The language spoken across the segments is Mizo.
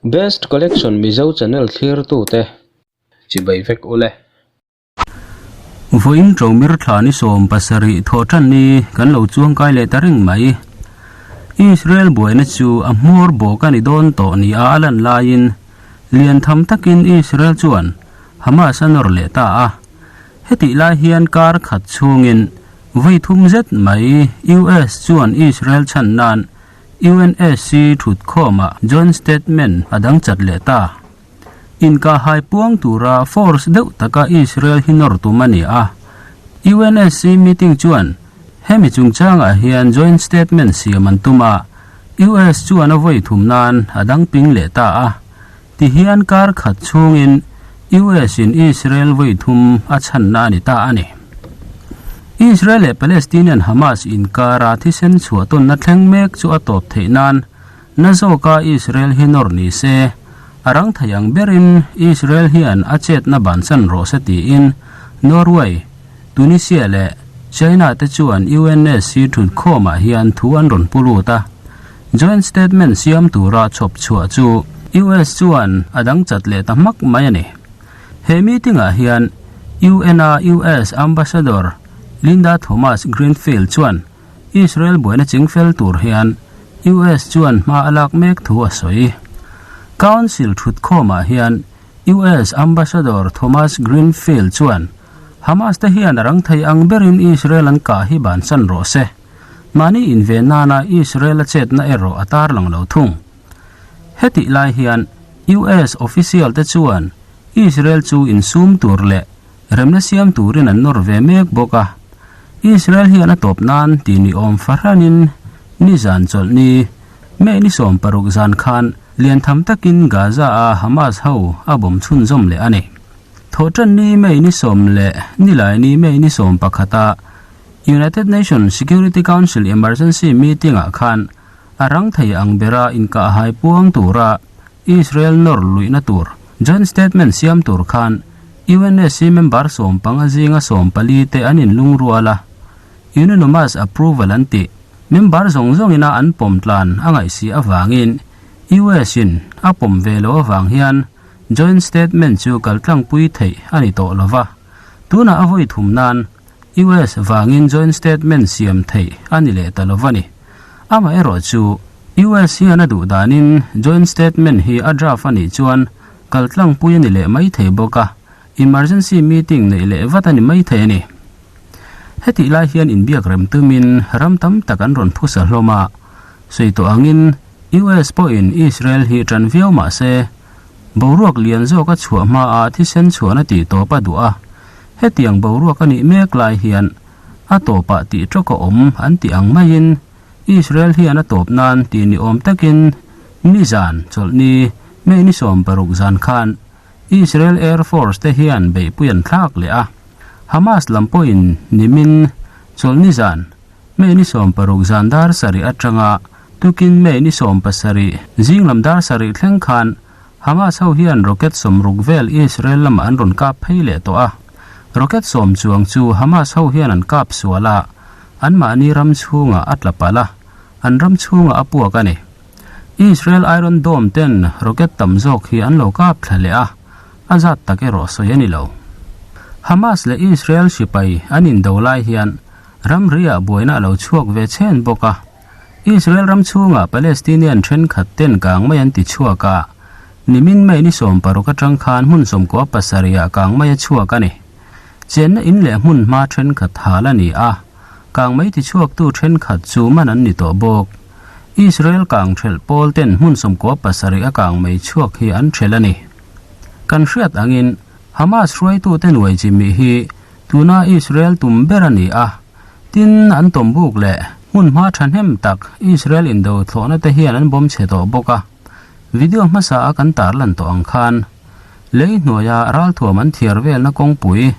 Best collection mizo channel thlir tu te chi bai vek ule. Vawiin to mirthla ni sawm pasarih thaw tan ni kan lo chuang kai leh ta reng mai. Israel buaina chu a hmawr bawk a ni dawn tawh ni a lan laiin lian tham takin Israel chuan Hamas a nawr leh ta a. Hetih lai hian kar khat chhungin Vei thum zet mai, US chuan Israel chhan nan UNSC thut khawm a joint statement a dang chat leh ta. Inkah hai puang tura force deuh taka Israel hi nawr tum a ni a. UNSC meeting chuan hemi chungchangah hian joint statement siam an tum a, US chuan a vei thum nan a dang ping leh ta a. Tihian kar khat chhungin US in Israel vawi thum a chhanna a ni ta a ni. Israel leh Palestinian Hamas inkara thisen chhuahtawnna thleng mek chu a tawp theih nan na zawka Israel hi nawr ni se, a rang thei ang berin Israel hian a chetna banchan rawh se tiin Norway, Tunisia leh China te chuan UNSC thutkhawmah hian thu an rawn pu lut a. Joint statement siam tura chhawp chhuah chu US chuan a dang chat leh ta hmak mai a ni. He meeting ah hian UN-a US Ambassador Linda Thomas-Greenfield chuan Israel buaina ching fel tur hian US chuan hma a lak mek thu a sawi. Council thutkhawm ah hian US Ambassador Thomas-Greenfield chuan Hamas te hian a rang thei ang berin Israel an kah hi bansan rawh se, Mahni in ve nana Israel-a chetna erawh a tarlang lo thung. Hetih lai hian US official te chuan Israel chu insum tur leh remna siam turin an nawr ve mek bawk a, Israel hian a tawp nan tih ni awm fahranin ni zan chawlh ni meh ni sawm paruk zan khan lian tham takin Gaza-a Hamas ho a bawm chhunzawm leh a ni. Thawhṭan ni mei ni sawm leh ni lai ni mei ni sawm pakhata United Nations Security Council Emergency Meeting-ah khan a rang thei ang bera inkah hai puang tura Israel nawr luihna tur joint statement siam tur khan UNSC member sawm panga zinga sawm pali te an inlungrual a, unanimous approval an tih, member zawng zawng ina an pawm tlan a ngaihsiah avangin US-in a pawm ve lo avang hian joint statement chu kaltlangpui theih a ni tawh lova, tunah a vawi thum nan, US vangin joint statement siam theih a ni leh ta lo va ni. Amaherawh chu, US hian a duh danin joint statement hi a draft a nih chuan kal tlangpui a ni leh mai thei bawk a, emergency meeting neih leh vat a ni mai thei a ni. Hetih lai hian inbiak rem tumin ram tam tak an rawn phusa hlawm a, sawi tawh angin US pawhin Israel hi ṭan viau mah se, boruak lian zawka chhuah hmaah thisen chhuahna tih tawpa duh a, Hetiang boruak a nih mek lai hian a tawp a tih ṭawk a awm an tih ang maiin Israel hian a tawp nan tih ni awm takin nizan chawlhni mei ni sawm paruk zan khan Israel Air Force te hian beih pui an thlak leh a. Hamas lam pawhin nimin chawlhni zan mei ni sawm paruk zan dar sarih aṭanga tukin mei ni sawm pasarih zinglam dar sarih thleng khan Hamas ho hian rocket sawm ruk vel Israel lamah an rawn kap phei leh tawh a. Rocket sawm chuang chu Hamas ho hian an kap sual a, anmahni ram chhungah a tla palh a, an ram chhungah a puak a ni. Israel Iron Dome ten rocket tam zawk hi an lo kap thla leh a, a zat tak erawh sawi a ni lo. Hamas leh Israel sipai an indo lai hian ramriah buaina a lo chhuak ve chhen bawk a. Israel ram chhunga Palestinian thenkhat ten kang mai an ti chhuak a, nimin mei ni sawm paruk atang khan hmun sawmkua pasarih ah kang mai a chhuak a ni. Chenna in leh hmun hma thenkhat hal a ni a, kang mai ti chhuak tu thenkhat chu man an ni tawh bawk. Israel kang hrelh pawl ten hmun sawmkua pasarih a kang mai chhuak hi an hrelh a ni. Kan hriat angin Hamas hruaitu te nuai chimih hi tuna Israel tum ber a ni a, Tin, an tawmbuk leh hmunhma thahnem tak Israel indo thlawhnate hian an bawm chhe tawh bawk a. Video hmasaah kan tarlan tawh ang khan, lei hnuaia ralthuam an thiar velna kawngpui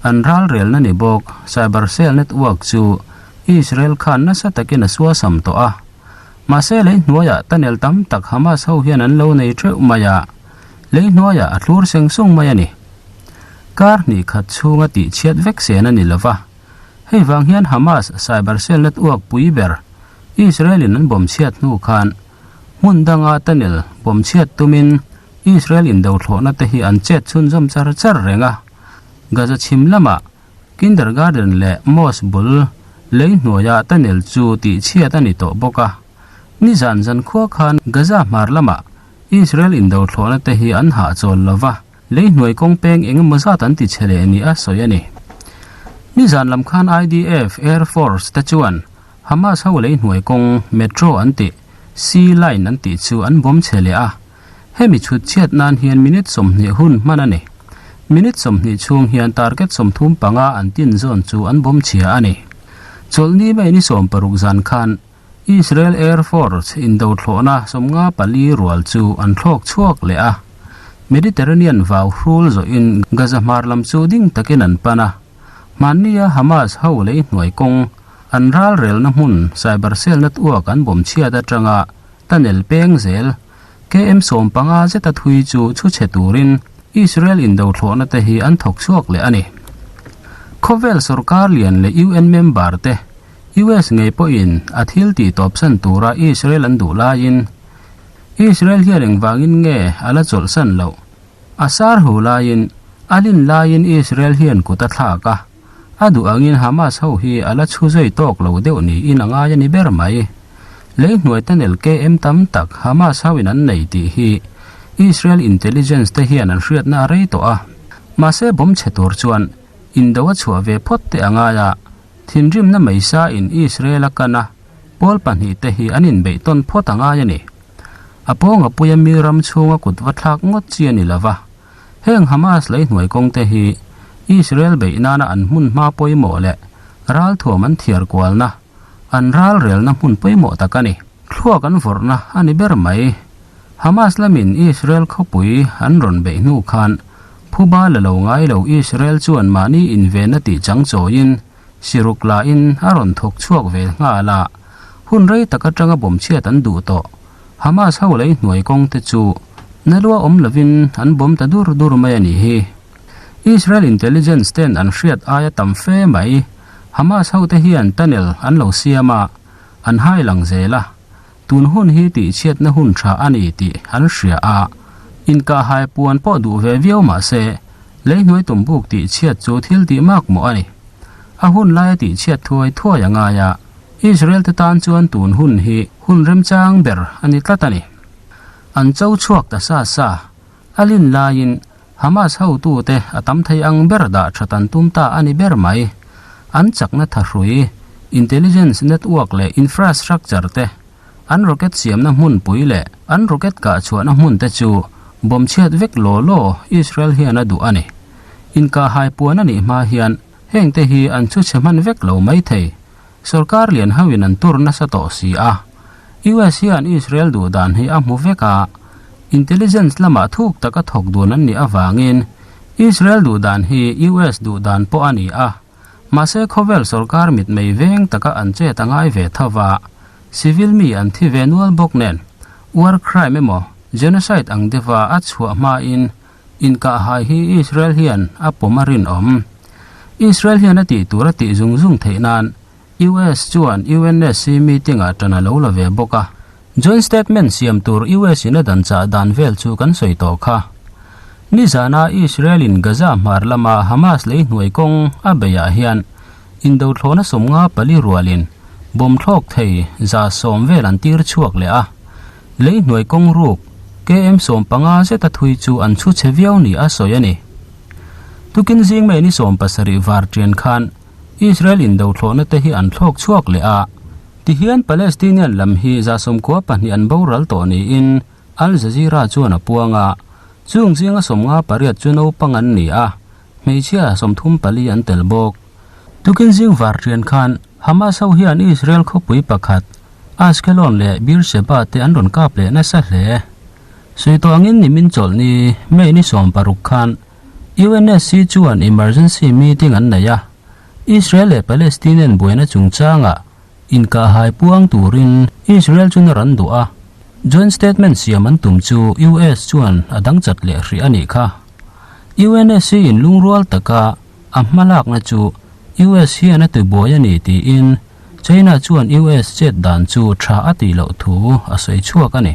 an ralrelna ni bawk Cybercell network chu Israel khan nasa takin a suasam tawh a. Mahse, lei hnuaia tunnel tam tak Hamas ho hian an lo nei theuh mai a, lei hnuaia a tlur seng sung mai a ni. Kar hnih khat chhunga tihchhiat vek sen a ni lo va, hei vang hian Hamas cyber cell net uak pui ber Israel-in an bawm chhiat hnu khan hmun danga tunnel bawm chhiat tumin Israel indohthlawhna te hi an chet chhunzawm char char reng a. Gaza chhim lama Kindergarten leh Mosque bul lei hnuaia tunnel chu tihchhiat a ni tawh bawk a, ni zan zan khua khan Gaza hmar lama Israel indothluahna te hi an hahchawl lo va, lei hnuai kawng peng eng emaw zat an ti chhe leh ni a sawi a ni. Nizan lam khan IDF, Air Force, te chuan Hamas ho lei hnuai kawng, metro an tih, sea line an tih chu an bawm chhe leh a. Hemi chhutchhiat nan hian minute sawmhnih hun hman a ni. Minute sawmhnih chhung hian target sawmthum panga an tin zawn chu an bawm chhia a ni. Chawlhni May ni sawm paruk zan khan Israel Air Force indothlawhna sawmnga pali rual chu an thlawk chhuak leh a, Mediterranean vau hrul zawhin Gaza hmar lam chu ding takin an pan a. Hmannia Hamas ho lei hnuai kawng an ralrelna hmun cybercell-na tuak an bawm chhiat atanga tunnel peng zel KM sawm panga zeta thui chu chhuchhe turin Israel indothlawhna te hi an thawk chhuak leh a ni. Khawvel sawrkar lian leh UN member te US ngei pawhin a thil tih tawpsan tura Israel an duh laiin, Israel hian engvangin nge a la chawlhsan loh? A sarhu laiin, a lin laiin Israel hian kut a thlak a, a duh angin Hamas ho hi a la chhu zawih tawk lo deuh niin a ngai a ni ber mai. Leihnuai te nel KM tam tak Hamas hoin an nei tih hi Israel intelligence te hian an hriatna a rei tawh a, mahse bomb chhe tur chuan indo a chhuah ve phawt teh a ngai a. Thinrimna mai sa in Israel a kan a pawl pahnih te hi an inbeih tawn phawt a ngai a ni. A pawngapui a mi ram chhung a kut va thlak ngawt chi a ni lo va, heng Hamas lei hnuai kawng te hi Israel beih nan a an hmun hma pawimawh leh ral thuam an thiar kual na, an ralrel na hmun pawimawh tak a ni. Thluak an vawrh na a ni ber mai. Hamas lam in Israel khawpui an rawn beih hnu khan phuba la lo ngai lo Israel chuan mahni in ve na tih chang chawi in siruk la in a rawn thawk chhuak ve nghal a, hun rei tak atanga bawm chhiat an duh tawh. Hamas ho lei hnuai kawng te chu nalua awm lo in an bawm ta dur dur mai a nih hi. Israel intelligence ten an hriat aia tam fe mai. Hamas ho te hian tunnel an lo siam a, an hai lang zel a. Tun hun hi tihchhiatna hun tha a ni tih an hria a, inkah hai puan pawh duh ve viau mah se, leihnuai tumbuk tihchhiat chu thil tih mak maw a ni. A hun laia tihchhiat thuai thuai a ngai a, Israel-te tan chuan tun hun hi hun remchang ber a ni tlat a ni. An cho chhuak ta sa sa, a lin laiin Hamas hotute a tam thei ang ber dah that an tum ta a ni ber mai. An chakna tha hrui, intelligence, network leh infrastructure te, an rocket siamna hmunpui leh an rocket kahchhuahna hmun te chu bomb chhiat vek law law Israel hian a duh a ni. Inkahhai puan a nih hma hian, Heng te hi an chhu chhe hman vek lo mai thei. Sorkar lian ho in an tur nasa tawh si a. US hian Israel duh dan hi a hmu vek a, intelligence lamah thuk tak a thawk dun an nih avangin Israel duh dan hi US duh dan pawh a ni a. Mahse khawvel sorkar mitmei veng taka an chet a ngai ve tho va, civil mi an thi ve nual bawk nen war crime emaw genocide ang deuh a a chhuah hma in Inkahhai hi Israel hian a pawm a rinawm. Israel hian a tih tur a tih zung zung theih nan US chuan UNSC meeting ah tan a lo la ve bawk a. Joint statement siam tur US in a dan chah dan vel chu kan sawi tawh kha. Nizana Israel in Gaza hmar lama Hamas lei hnuai kawng a bei ah hian Indothlawna sawmnga pali rual in bomb thlawk thei za sawm vel an tir chhuak leh a. Lei hnuai kawng ruk KM sawm panga zeta thui chu an chhu chhe viau nih a sawi a ni. Tukin zing mei ni sawm pasarih var ṭian khan Israel indo thlawhna te hi an thlawk chhuak leh a. Tihian Palestinian lam hi zasawmkhua pahnih an boral tawh niin Al Jazeera chuan a puang a, chung zinga sawmnga pariat chu naupang an ni a, hmeichhia sawmthum pali an tel bawk. Tukin zing var rian khan Hamas ho hian Israel khawpui pakhat Ashkelon leh Beersheba te an rawn kap leh nasa hle. Sawi tawh angin nimin chawlh ni May ni sawm paruk khan UNSC chuan emergency meeting an neih a, Israel leh Palestinian buaina chungchangah inkahhai puang turin Israel chu na ran duh a, joint statement siam an tum chu US chuan a dangchat leh hrih a nih kha. UNSC in lungrual taka A hma lakna chu US hian a tubuai a ni tiin China chuan US chet dan chu tha a tih loh thu a sawi chhuak a ni.